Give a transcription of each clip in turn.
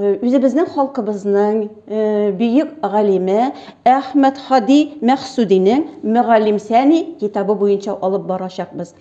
үзебезнең халкыбызның бөек галиме Әхмәт Хади Мәхсудинең Мөгаллимсәни китабы буенча алып барачакбыз.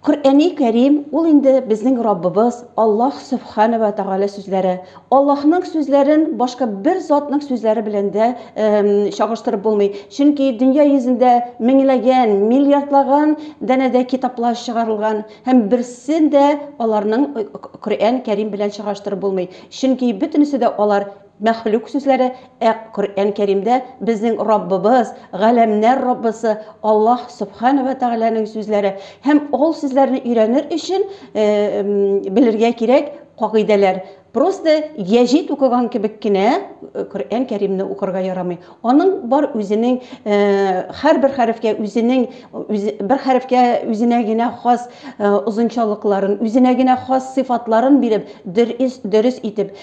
Коръәни Кәрим ул инде безнең Раббыбыз Аллаһ Субхана ва Тагала сүзләре. Аллаһның сүзләрен башка бер затның сүзләре белән дә чагыштырып булмый. Чөнки дөнья йөзендә меңләгән, миллиардлаган данәдә китаплар чыгарылган. Һәм берсен дә аларның Коръән Кәрим белән чагыштырып булмый, чөнки бөтенесе дә алар мәхлук сүзләре, ә Коръән Кәримдә безнең Раббыбыз, Галәмнәр Раббысы Аллаһ Сөбхәнә вә Тәгаләнең сүзләре. Һәм ул сүзләрне өйрәнер өчен белергә кирәк кагыйдәләр. Просто гәҗит укыган кебек кенә Коръән Кәримне укырга ярамый. Аның бар үзенең һәрбер хәрефкә үзенең бер хәрефкә үзенә генә хас озынчалыкларын, үзенә генә хас сыйфатларын биреп, дөрес, дөрес итеп,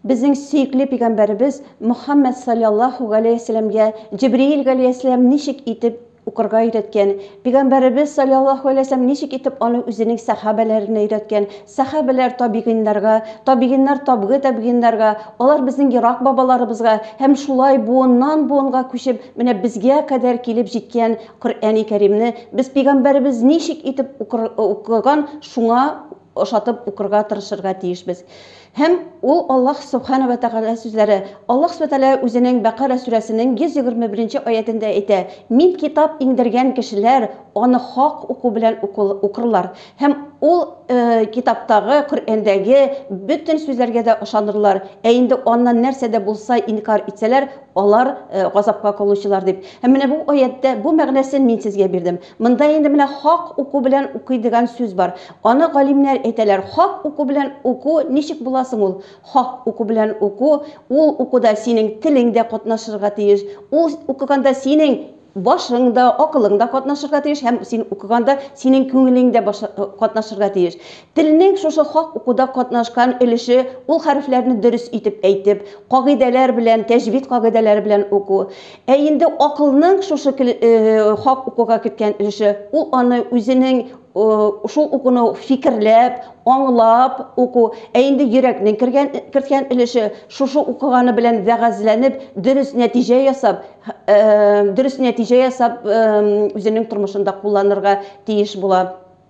безнең сөекле пигамбәребез Мөхәммәд салләллаһу галәйһи ва сәлләмгә Җибриил галәйһиссәлам ничек итеп укырга өйрәткән, пигамбәребез салләллаһу әләйһи ва сәлләм ничек итеп аны үзенең сәхабәләренә өйрәткән, сәхабәләр табигыйннарга, табигыйннар табгы табигыйннарга, алар безнең ерак бабаларыбызга һәм шулай буыннан буынга күчеп менә безгә кадәр килеп җиткән Коръәни Кәримне без пигамбәребез ничек итеп укыр укыган шуңа ошатып укырга тырышырга тиешбез. Һәм ул Аллаһ Сөбхәнә вә Тәгалә сүзләре. Аллаһ Сүбхәнә Тәгалә Үзенең Бәкара сүрәсенең 121 аятендә әйтә, Мин китап иңдергән кешеләр аны хак уку белән укырлар һәм ул китаптагы, Коръәндәге, бөтен сүзләргә дә ышанырлар, ә инде аннан нәрсә дә булса инкарь итсәләр, алар газапка калучылар дип. Һәм менә бу аятьтә бу мәгънәсен мин сезгә бирдем. Монда инде менә хак уку белән укый дигән сүз бар. Аны галимнәр әйтәләр. Хак уку белән уку ничек була соң ул? Хак уку белән уку, ул укуда синең телең дә катнашырга тиеш, ул укыганда синең башың да, акылың да катнашырга тиеш һәм син укыганда синең күңелең дә катнашырга тиеш. Телнең шушы хак укуда катнашкан өлеше ул хәрефләрне дөрес итеп әйтеп, кагыйдәләр белән, тәҗвид кагыйдәләре белән уку. Ә инде акылның шушы хак укуга керткән өлеше ул аны үзенең шул укуны фикерләп, аңлап уку. Ә инде йөрәкнең кергән керткән өлеше шушы укыганы белән вәгазьләнеп, дөрес нәтиҗә ясап, дөрес нәтиҗә ясап үзенең тормышында кулланырга тиеш була.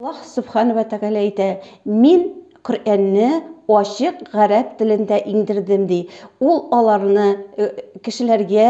Аллаһ Сүбхәнә вә Тәгалә әйтә, Мин Коръәнне ачык гарәп телендә иңдердем, ди. Ул аларны кешеләргә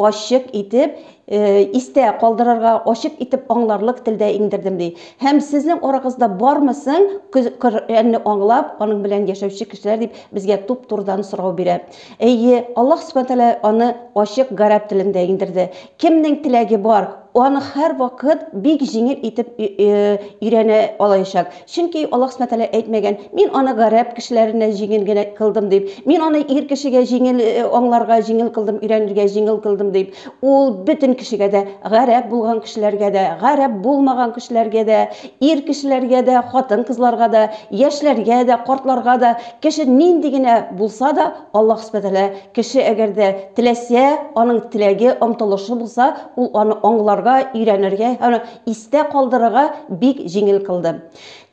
ачык итеп истә калдырырга, ачык итеп аңларлык телдә иңдердем, ди. Һәм сезнең арагызда бармы соң Коръәнне аңлап, аның белән яшәүче кешеләр, дип безгә туп-турыдан сорау бирә. Әйе, Аллаһ Сүбхәнә вә Тәгалә аны ачык гарәп телендә иңдерде. Кемнең теләге бар, аны һәрвакыт бик җиңел итеп өйрәнә алаячак. Чөнки Аллаһ Сүбхәнә Тәгалә әйтмәгән, Мин аны гарәп кешеләренә җиңел генә кылдым дип, Мин аны ир кешегә җиңел аңларга җиңел кылдым, өйрәнергә җиңел кылдым дип. Ул бөтен кешегә дә, гарәп булган кешеләргә дә, гарәп булмаган кешеләргә дә, ир кешеләргә дә, хатын-кызларга да, яшьләргә дә, картларга да, кеше нинди генә булса да, Аллаһ Сүбхәнә Тәгалә Кеше әгәр дә теләсә, аның теләге, омтылышы булса, ул аны аңларга, өйрәнергә һәм истә калдырырга бик җиңел кылды.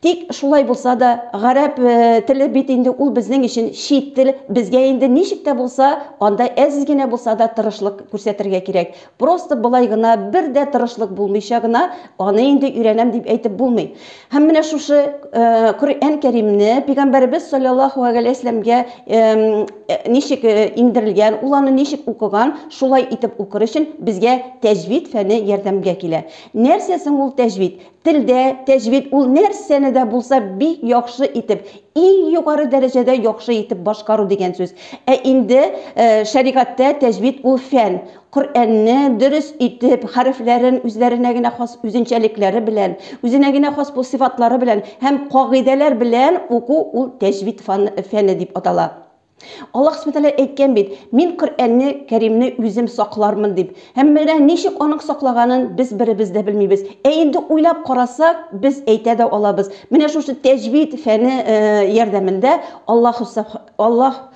Тик шулай булса да, гарәп теле бит инде ул безнең өчен чит тел, безгә инде ничек тә булса анда әз генә булса да тырышлык күрсәтергә кирәк. Просто болай гына, бер дә тырышлык булмыйча гына аны инде өйрәнәм дип әйтеп булмый. Һәм менә шушы Коръән Кәримне Пәйгамбәребез саллаллаху алейһи вә сәлләмгә ничек иңдерелгән, ул аны ничек укыган, шулай итеп укыр өчен безгә тәҗвид фәне ярдәмгә килә. Нәрсә соң ул тәҗвид? Телдә тәҗвид ул нәрсәне дә булса бик яхшы итеп, иң югары дәрәҗәдә яхшы итеп башкару дигән сүз. Ә инде шәригатьтә тәҗвид ул фән, Коръәнне дөрес итеп, хәрефләрен үзләренә генә хас үзенчәлекләре белән, үзенә генә хас бу сыйфатлары белән һәм кагыйдәләр белән уку ул тәҗвид фан фәне дип атала. Аллаһ Сүбхәнә Тәгалә әйткән бит, Мин Коръәнне Кәримне үзем саклармын дип. Һәм менә ничек аның саклаганын без беребез дә белмибез. Ә инде уйлап карасак, без әйтә дә алабыз. Менә шушы тәҗвид фәне ярдәмендә Аллаһ Аллаһ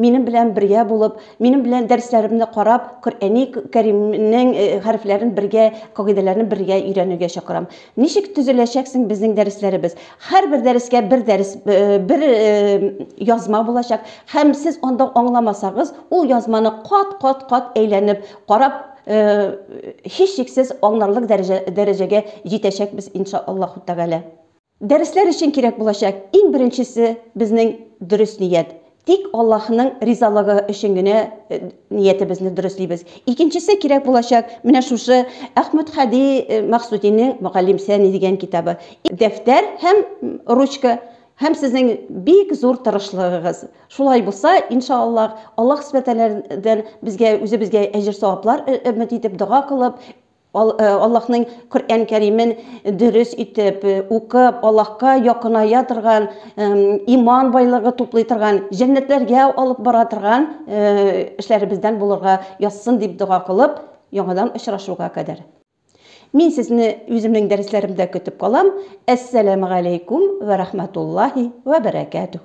Минем белән бергә булып, минем белән дәресләремне карап, Коръәни Кәримнең хәрефләрен бергә, кагыйдәләрен бергә өйрәнергә чакырам. Ничек төзеләчәк соң безнең дәресләребез? Һәрбер дәрескә бер дәрес, бер язма булачак һәм сез анда аңламасагыз, ул язманы кат-кат-кат әйләнеп карап, һичшиксез аңларлык дәрәҗәгә җитәчәкбез, иншаАллаһу тәгалә. Дәресләр өчен кирәк булачак иң беренчесе безнең дөрес ният. Тик Аллаһының ризалыгы өчен генә ниятебезне дөреслибез. Икенчесе кирәк булачак менә шушы Әхмәтһади Максудинең Мөгаллимсәни дигән китабы. Дәфтәр һәм ручка һәм сезнең бик зур тырышлыгыгыз. Шулай булса, иншаАллаһ, Аллаһ Сүбхәнәһү ва Тәгаләдән безгә, үзебезгә әҗер-саваплар өмет итеп, дога кылып, Аллаһның Коръән Кәримен дөрес итеп укып, Аллаһка якыная торган, иман байлыгы туплый торган, җәннәтләргә алып бара торган эшләребездән булырга язсын дип дога кылып, яңадан очрашуга кадәр. Мин сезне үземнең дәресләремдә көтеп калам. Әссәләмегаләйкүм вә рахмәтуллаһи вә бәрәкәтүһ.